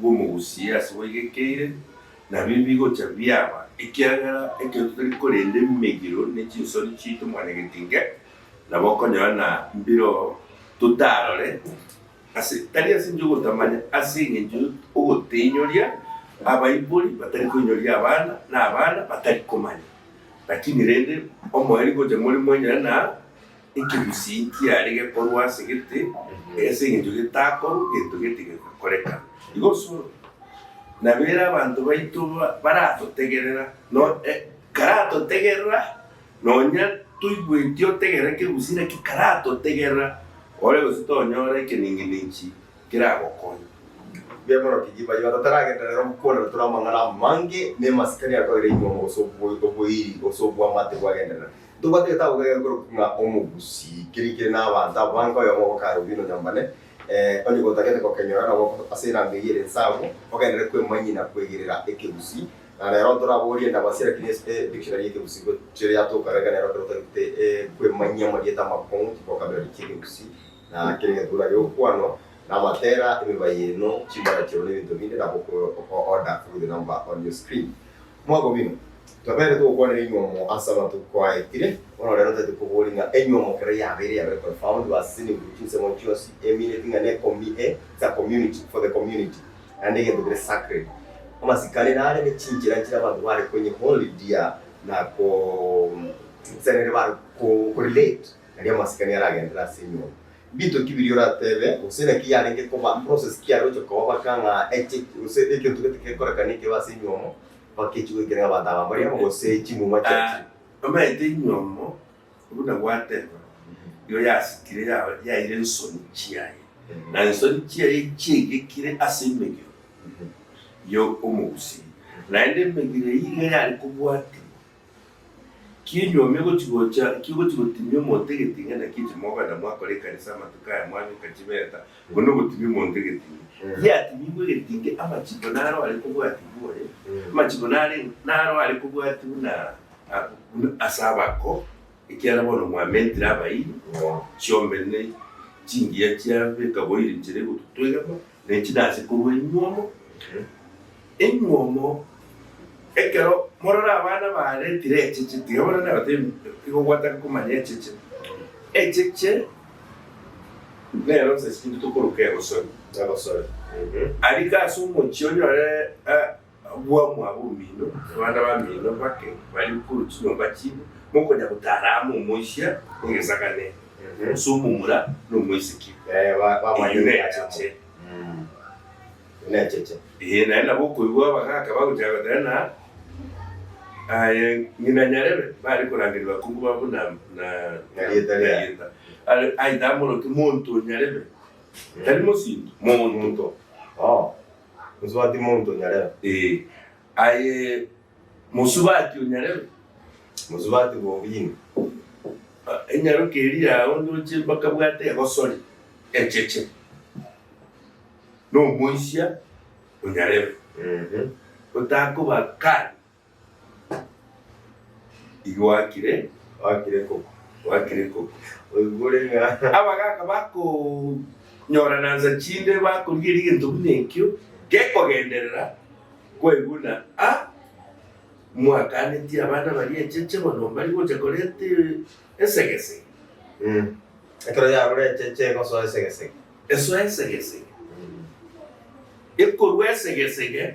bw'omogusie ase bwaigekeire, nabio mbigocha biaba, ekiagera ekero totari korenda emegiro ne chinsori chiaito mwanyagetinge, nabo okonyora na mbiro totarore, ase tari ase enchera y'ogotamanya, ase engencho y'ogotenyoria abaibori batari koinyoria abana, na abana batari komanya, lakini rende omoerio gocha more mwenyora na. Ekegusii nkiare gekorwa ase gete, e, ase engencho getakorwa gento gete gegakoreka. Igoso nabere abanto baito ba, baratotegerera, no, e, karatotegerera, nonya toigweti otegerera ekegusii naki karatotegerera ore gose tonyora ekenengenechi keragokonya. Bw'eborokia ki baria bataragenderera rero gokwana na tore amang'ana amange na emasikani akoire inyuomo gose oboiri gose obwamate bwagenderera? Ntobwate gete abwo egere korokwa ng'a omogusii, keria kere n'abanto abo bange, oyomo ogokara obino nyambane, onye gotagete gokenyora nabo ase erango eyio ere ensagu, ogenderere kwemanyia na kwegerera ekegusii. Na rero ntore abwo oriende abasio, lakini ase e dictionary y'ekegusii gochia yatoka iga nero ekero otagete kwemanyia amarieta amakong'u, chivokabulari chi'ekegusii, na kera egetuura gi'okwano, na amatera, emibayeeno, chimbarakioro na ebinto binde, nabo oko order through the number on your screen. Mwabo bino, tobeerete gokwanera inwe omo ase amatuko aetire, bono rero totete koboria ng'a enywe omo kera yabeire yabeire confound was seen in group chinsemo chionsi e meaneti ng'a ne comi e it's a community for the community naende egento kere sacred amasikani nare ne chinchera nchire abanto bare konye hold dear na ko nse nere bare ko relate naria amasikani aragenderere ase enyomba Mbinto ki biria oratebe, gose naki yarenge koba, process ki yaroche koba baka ng'a eche, gose egento gete gekoreka neke ebe ase enyiomo baka echi goikera ng'a abanto aba mbari amo gose chimuma chiachire? Omanyete enyiomo buna gwateba, nigo yasitire ya- yaire ensoni chiaye, na ensoni chiaye chiaigekire ase emegiro ya omogusiria, naende emegiro eyio iga yare kobwatigwa Kinyuomia gochi-gocha ki'ogochi-gotimia omonto egeting'a naki inche mogwenda mwakora ekanisa amatuko aya mwanyoka chibeta, oko nogotimia omonto egeting'a. Yatimigwe egeting'a amachiko naro are kobwatibwa oye, amachiko nare naro are kobwatibwa na buna ase abako, ekiagera bono mwamentire abairi, chiombe ne chingiya chiabe ekaboiri nchera egototwegama, Ne chinase korwa enyuomo enyuomo, ekero morore abana baaretire echeche, tiga bono nabateebie, tiga ogwataka komanya echeche. Echeche nero nsa sinto tokoroka egosori, aria ase omochie onyore. Agwo mwabo omino, abana bamino bake baria korwa chinyomba chibo, mokonya gotara amo omoisia negesakane, gose omomura nomoiseke, eyio necheche. Ee, naende nabo okoigwa abagaaka bagochaka goteba ng'a, Aye ng'ina nyarebe, bare korangeria bakungu babo na rieta riaye. Aye tamorokia monto o nyarebe, tari mosinto, monto. Mosubati monto onyarebe. Ee, aye mosubati onyarebe. Mosubati bobina. Enyaroke eria yao ndoche mpaka bwate egosori echeche. Nomoisia onyarebe. Otakoba kari. Abagaaka bakonyoranansa chinde bakorigeria egento buna ekio gekogenderera kweguna a mwakanetie abana baria echeche bono mbari gocha koreta esegesege. Ekero yarure echeche egosoa esegesege. Esoa esegesege. Ekorua esegesege.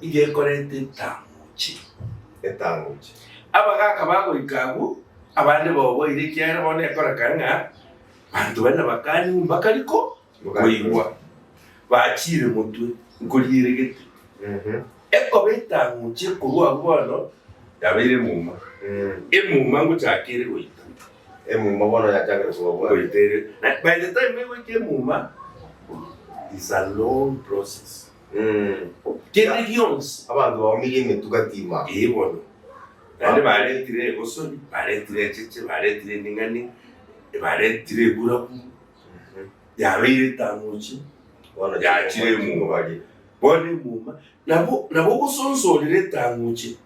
Iga ekorete etangochi. Etangochi. Abagaaka bagoika abwo, abande baoboire, ekiagera bono nekoreka ng'a banto bane bakanywa mbaka riko koigwa bachiire motwe nkorieregete. Ekoba etangochi ekorwa abwo bono yabeire emuma. Emuma ngochaka ere goita. Emuma bono yachakire koba bwango. Goita ere. By the time egoika emuma is a long process. kende gionsi. Abanto baumirie emetuga tima. Ee bono. Naende baretire egosori, baretire echeche, baretire emeng'ani, baretire eburabu, yabeire etamochi, Bono yachire timobaria emuma. baria. Bono emuma, nabo nabo ogosonsa orire etamochi.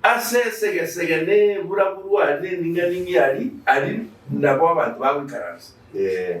Ase esegesege na eburabu rwari na emeng'ani ng'ia ari, aria nabo abanto bagoikaransa. Ee.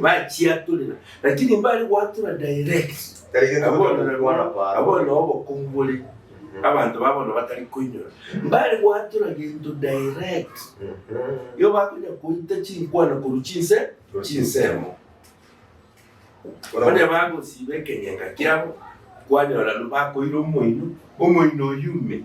bachiatorera lakini mbare gwatora direct abona obokungu bore abanto ba bono batari koinyora mbare gwatora gento direct yo bakonya koita chinkwana koru chinse chinsemo onye bagosiba ekenyeka kiabo kwanyora bakoira omoino omoino oyume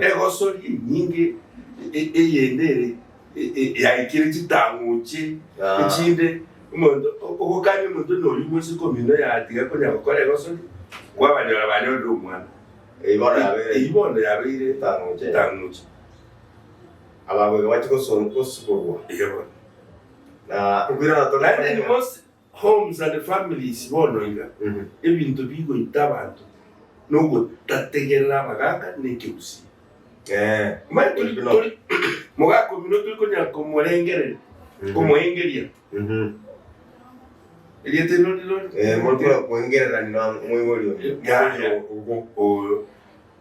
Egosori enyinge eyende ere yaikire chitang'uche echinde, omonto ogokania omonto onde oyio bwensi komino yatiga konya gokora egosori, kwabanyora banyore omwana. Eyio bono yabeire chitang'uche. Ababwo iga bache gosiborwa. Naende inwe bonsi Homes and families bono iga ebinto bigoita abanto nogotategerera abagaka na ekegusii. Mbae tori tori mogaka omino tori konyara komorengereria komoengeria erieta eriro riri riri. Mori kora koengerera ng'a moibori oyo, moibori ogo.